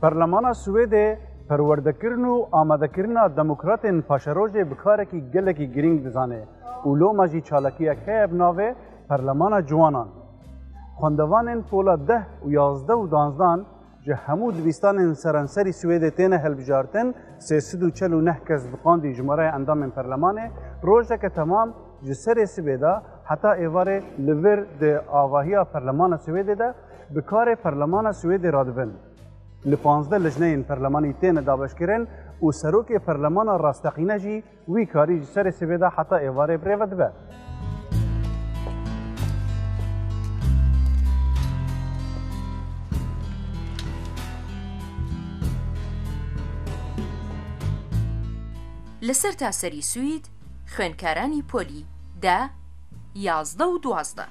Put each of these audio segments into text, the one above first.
Parlemana Swêdê perwerdekirin û amadekirina demokratên paşerojê bi karekî gelekî girîng dizane û loma jî çalakiyek heye bi navê Parlemana Ciwanan. Xwendevanên pola deh û yazdeh û danzdan ji hemû dibistanên seranserî Swêdê têne hilbijartin, sê sed û çel û neh kes bi qandî jimareya endamên Parlemanê rojeke temam ji serê sibê de heta êvarê li vir di avahiya Parlemana Swêdê de Bi karê Perlemana Swêdê re dibin. Li pazdeh lijneyên perlemanî têne dabeşkirin û serokê perlemana rasteqîne jî wî karî ji serê sibê de heta êvarê bi rê ve dibe. Li sertaserî Swîd xwênkaranî polî de, yazdeh û duwazdeh.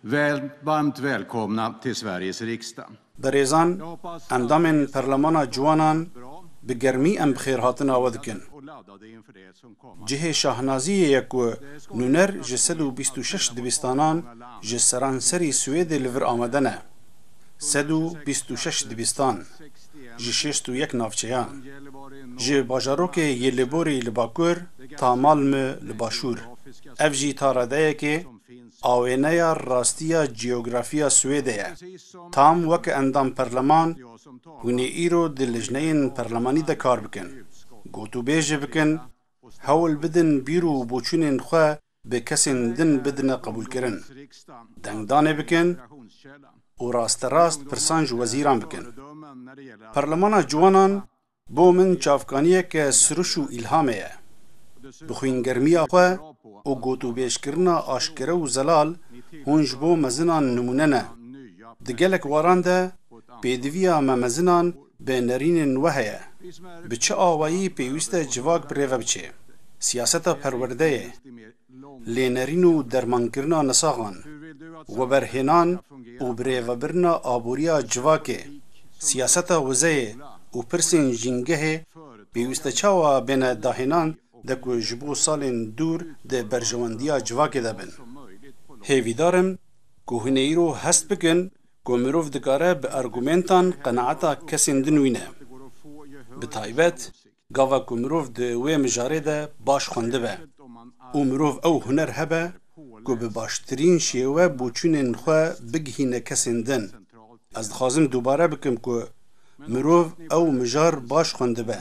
Väl, varmt välkomna till Sveriges riksdag. Berêzan, endamên Perlemana Ciwanan bi germî em bixêrhatina we dikin. Cihê şahnaziyê ye ku nûner ji sed û bîst û şeş dibistanan ji seranserî Swêdê li vir amade ne. Sed û bîst û şeş dibistan, ji şêst û yek navçeyan. Ji bajarokê Gällivori li bakur ta Malmö li başûr. Ev jî ta redeyekê Awêneya rastiya cîyografîya Swêdê ye. Tam weke endam perleman, hûn ê îro di lijneyên perlemanî de kar bikin, gotûbêjê bikin, hewl bidin bîr û boçûnên xwe bi kesên din bidine qebûlkirin, dengdanê bikin û rasterast pirsan ji wezîran bikin. Perlemana Ciwanan Bo min çavkaniyeke siriş û îlhamê ye. Bi xwîngermiya xwe û gotûbêjkirina aşkere û zelal hûn ji bo mezinan nimûne ne. Di gelek waran de pêdiviya me mezinan bi nerînên we heye. Bi çi awayî pêwîste civak bi rêve biçê? Siyaseta perwerdeyê. lênerîn û dermankirina nisaxan, weberhênan û birêvebirina aboriya civakê, siyaseta wizeyê û pirsên jîngehê pêwîste çawa bêne dahênan de ku ji bo salên dûr di berjewendiya civakê de bin. Hêvîdar im ku hûn ê îro hest bikin ku mirov dikare bi argumentan qenaeta kesên din wîne. Bi taybet Gava ku mirov di wê mijarê de baş xwendibe û mirov ew huner hebe ku bi baştirîn şêwe boçûnên xwe bigihîne kesên din, ez dixwazim dubare bikim ku mirov ew mijar baş xwendibe.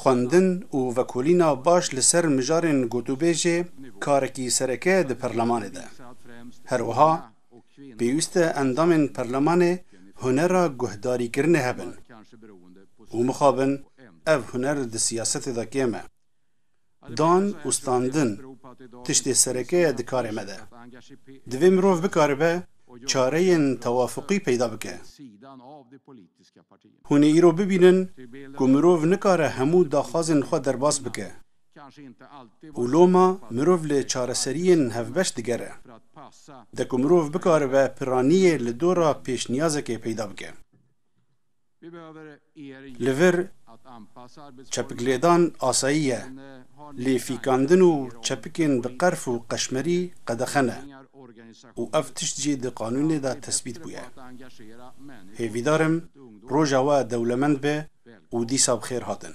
Xwendin û vekolîna baş li ser mijarên gotûbêjê karekî sereke ye di perlemanê de. Her wiha Pêwîst e endamên perlemanê hunera guhdarîkirinê hebin û mixabin ev huner di siyasetê de kêm e. Dan û standin tiştê sereke ye di karê me de. Divê mirov bikaribe çareyên tewafuqî peyda bike. Hûn ê îro bibînin ku mirov nikare hemû daxwazên xwe derbas bike. Û loma mirov li çareseriyên hevbeş digere. De ku mirov bikaribe piraniyê li dora pêşniyazekê peyda bike. Li vir çepiklêdan asayî ye, lê fîkandin û çepikên bi qerf û qeşmerî qedexe ne û ev tişt jî di qanûnê de tesbît bûye. Hêvîdar im roja we dewlemend be û dîsa bi xêr hatin.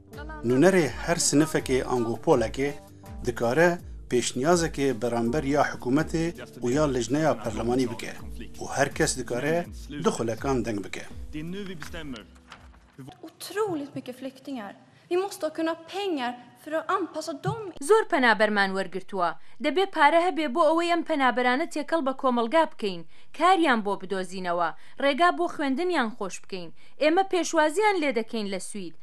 Nûnerê her sinifekê ango polekê dikare pêşniyazekê beramber ya hikûmetê û ya lijneya perlemanî bike û her kes dikare du xulekan deng bike. Zor penaberman wergirtuwa. Debê pare hebe bo ewey em penaberane têkel be komelga bikeyn, kariyan bo bidozînewa, rêga bo xwendiniyan xoş bikeyn. Ême pêşwaziyan lê dekeyn le Swîd.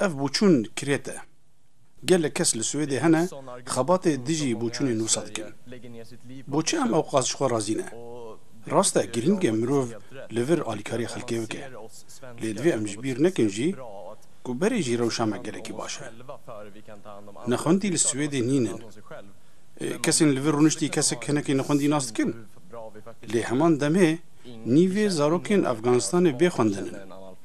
Ev bûçûn kirêt e. Gelek kes li Swêdê hene xebatê dijî bûçûnê nûsa dikin. Boçi em ewqas ji xwe razî ne? Rast e girîng e mirov li vir alîkarî xelkê bike. Lê divê em ji bîr nekin jî ku berê jî rewşa me gelekî baş e. Nexwendî li Swêdê nînin. Kesên li vir rûniştî kesek hinekî nexwendî nas dikin. Lê heman demê nîvê zarokên Efganistanê bê xwendin in.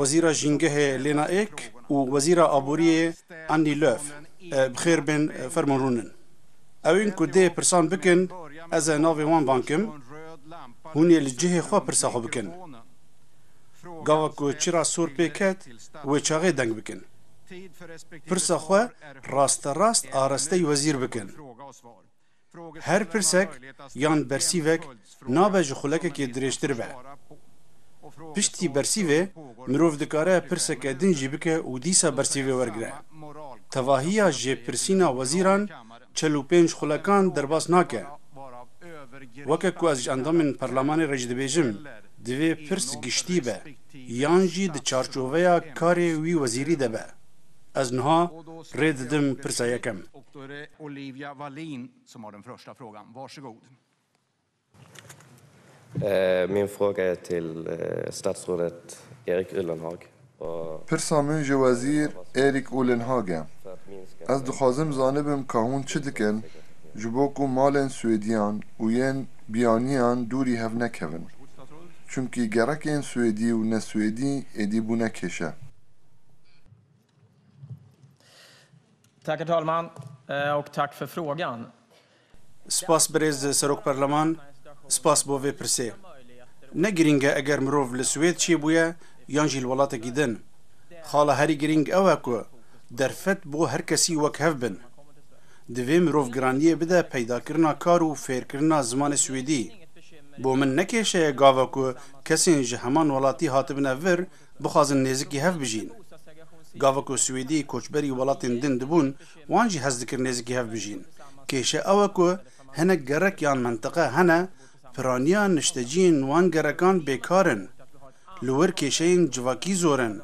Wezîra Jîngehê Lena Ek û Wezîra Aboriyê Annie Lööf bi xêr bên fermo rûnin. Ew ên ku dê pirsan bikin ez e navê wan vankim, hûn ê li cihê xwe pirsa xwe bikin. Gava ku çira sor pê ket wê çaxê deng bikin. Pirsa xwe rasterast arastey wezîr bikin. Her pirsek yan bersîvek nabe ji xulekekê dirêjtir be. Piştî bersîvê mirov dikare pirseke din jî bike û dîsa bersîvê wergire. Tevahiya jêpirsîna wezîran çel û pênc xulekan derbas nake. Weke ku ez ji endamên Perlemanê re jî dibêjim, divê pirs giştî be yan jî di çarçoveya karê wî wezîrî de be. Ez niha rê didim pirsa yekem. Då är det Olivia Wallin som har den första frågan. Varsågod. Min fråga är till statsrådet Erik Ullenhag. Pirsa min ji Wezîr Erik Ullenhag e. Ez dixwazim zanibim ka hûn çi dikin ji bo ku malên Swêdiyan û yên biyaniyan dûrî hev nekevin. Çimkî gerekên Swêdî û ne Swêdî êdî bûne kêşe. Spas birêz Serok Perleman, spas bo vê pirsê. Ne girîng e eger mirov li Swêd çêbûye yan jî li welatekî din. Xala herî girîng ew e ku derfet bo her kesî wek hev bin. Divê mirov giraniyê bide peydakirina kar û fêrkirina zimanê Swêdî. Bo min ne kêşe ye gava ku kesên ji heman welatî hatibine vir, bixwazin nêzikî hev bijîn. Gava ku Swêdî koçberî welatên din dibûn, wan jî hez dikir nêzikî hev bijîn. Kêşe ew e ku hinek gerek yan mintiqe hene, piraniya nişteciyên wan gerekan bêkar in. Li wir kêşeyên civakî zor in.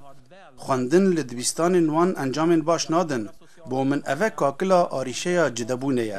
Xwendin li dibistanên wan encamên baş nadin. Bo min ev e kakila arîşeya cidebûnê ye.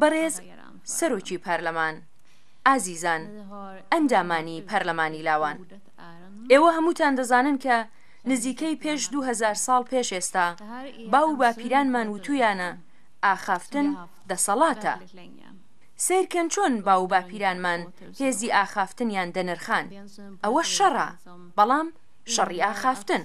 Berêz Serokî Parleman, Ezîzan endamanî parlemanî lawan, êwe hemûtan dizanin ke nizîkey pêş du hezar sal pêş êsta bav û bapîranman witûyane axaftin deselat e. Seyr kin çon bav û bapîranman hêzî axaftiniyan denirxand. Ewe şer e, belam şerî axaftin.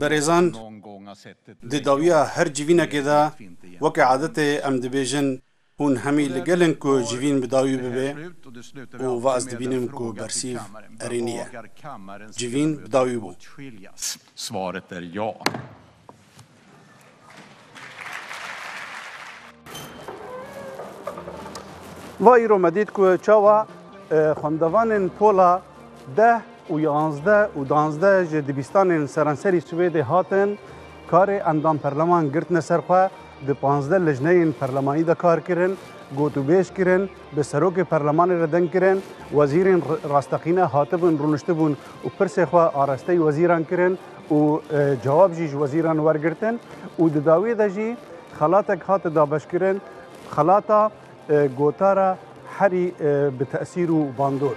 Berêzan, di dawiya her civînekê de weke adetê em dibêjin hûn hemî li gel in ku civîn bi dawî bibe û va ez dibînim ku bersîv erênî ye. Civîn bi dawî bû. Va îro me dît ku çawa xwendevanên pola deh û yanzdeh û danzdeh ji dibistanên seranserî Swêdê hatin karê endam perleman girtine ser xwe di panzdeh lijneyên perlemanî de kar kirin gotûbêj kirin bi serokê perlemanê re deng kirin wezîrên rasteqîne hatibûn rûniştibûn û pirsê xwe arasteyî wezîran kirin û cewab jî ji wezîran wergirtin û di dawiyê de jî xelatek hate dabeşkirin xelata gotara herî bi tesîr û bandor.